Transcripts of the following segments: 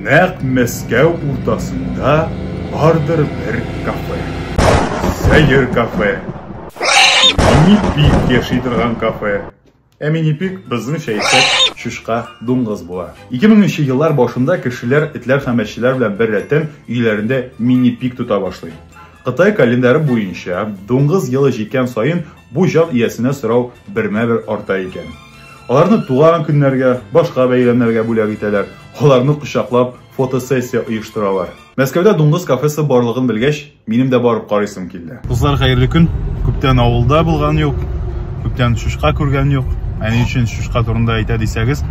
Нәкъ Мәскәү уртасында бардыр бер кафе. Сәер кафе. Минипик яши торган кафе. Ә минипик безнеңчә әйтсәк, чучка дуңгыз була. 2000 нче еллар башында кешеләр этләр һәм әчеләр белән беррәттән өйләрендә минипик тота башлый. Кытай календаре буенча, дуңгыз елы җиткән саен бу җан иясенә сорау бермә-бер арта икән. Аларны туган көннәргә, башка бәйрәмнәргә бүләк итәләр. Аларны кочаклап фотосессия оештыралар. Мәскәүдә дуңгыз кафесы барлыгын белгәч, минем дә барып карыйсым килде. Кызлар, хәерле көн. Күптән авылда булган юк. Күптән шушка күргән юк. Ә ни өчен шушка турында әйтә дисәгез,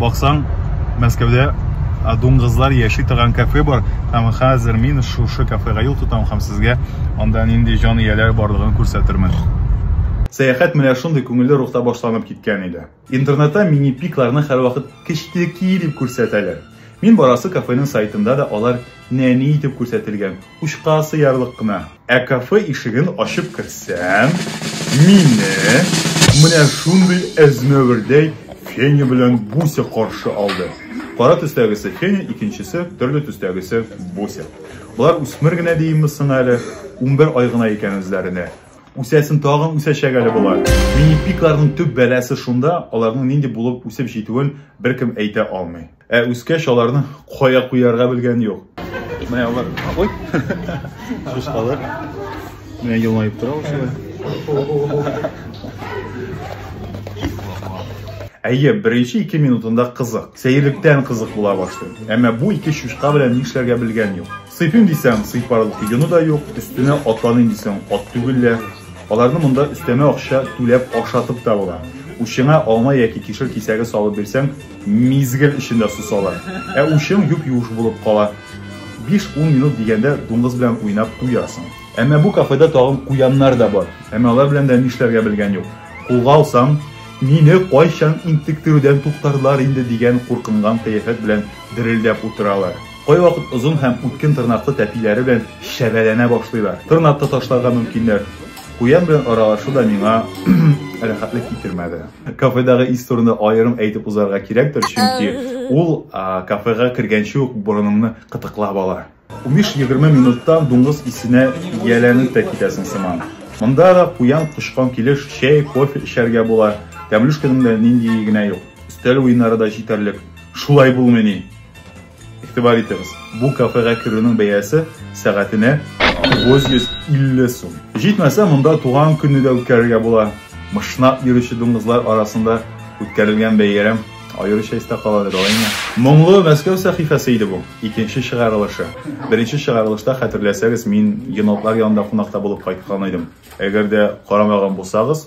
Баксаң, Мәскәүдә дуңгызлар яши торган кафе бар, һәм хәзер мин шушы кафега юл тотам һәм сезгә анда нинди җан ияләр барлыгын күрсәтермен. Сәяхәт менә шундый күңелле рухта башланып киткән иде. Интернетта мини-пикларны һәрвакыт кечтеки дип күрсәтәләр. Мин барасы кафеның сайтында да алар нәни итеп күрсәтелгән, учка сыярлык кына. Ә кафе ишеген ачып керсәм, мине менә шундый әзмәвердәй Феня белән Буся каршы алды. Кара төстәгесе Феня, икенчесе, төрле төстәгесе Буся. Болар үсмер генә диимме соң әле, унбер ай гына икән үзләренә. Үсәсен тагын үсәчәк әле болар. Мини-пикларның төп бәласе шунда, аларның нинди булып үсеп җитүен беркем әйтә алмый. Ә үскәч аларны кая куярга белгән юк. Менә алар. Ой. Шушкалар. Менә елмаеп тора ул шулай. Әйе, беренче ике минутында кызык. Сәерлектән кызык була башлый. Әмма бу ике шушка белән нишләргә белгән юк. Сыйпим дисәң, сыйпарлык юны да юк, өстенә атланыйм дисәң, ат түгел дә. Аларны монда өстәмә акча түләп ашатып та була. Учыңа алма яки кишер кисәге салып бирсәң, Мизгел эчендә сусалар. Ә учың юп юш булып кала. 5-10 минут дигәндә дуңгыз белән уйнап туясың. Әмма бу кафеда тагын куяннар да бар. Әмма алар белән дә нишләргә белгән юк. Кулга алсам, мине кайчан интектерүдән туктарлар инде дигән куркынган кыяфәт белән дерелдәп утыралар. Кайвакыт озын һәм үткен тырнаклы тәпиләре белән чәбәләнә башлыйлар. Тырнап та ташларга мөмкиннәр. Куян белән аралашу да миңа рәхәтлек китермәде. Кафедагы ис турында аерым әйтеп узарга кирәктер, чөнки ул кафега кергәнче үк борыныңны кытыклап ала. 15-20 минуттан дуңгыз исенә ияләнеп тә китәсең сыман. Монда да куян кочкан килеш чәй, кофе эчәргә була. Тәмлүшкәнең дә ниндие генә юк. Өстәл уеннары да җитәрлек. Шулай булмыйни? Игътибар итегез, бу кафега керүнең бәясе сәгатенә 950 сум. Җитмәсә, монда туган көнне дә үткәрергә була. Мышнап йөрүче дуңгызлар арасында үткәрелгән бәйрәм аеруча истә каладыр алайны. Моңлы Мәскәү сәхифәсе иде бу, икенче чыгарылышы. Беренче чыгарылышта, хәтерләсәгез, мин енотлар янында кунакта булып кайткан идем. Әгәр дә карамаган булсагыз,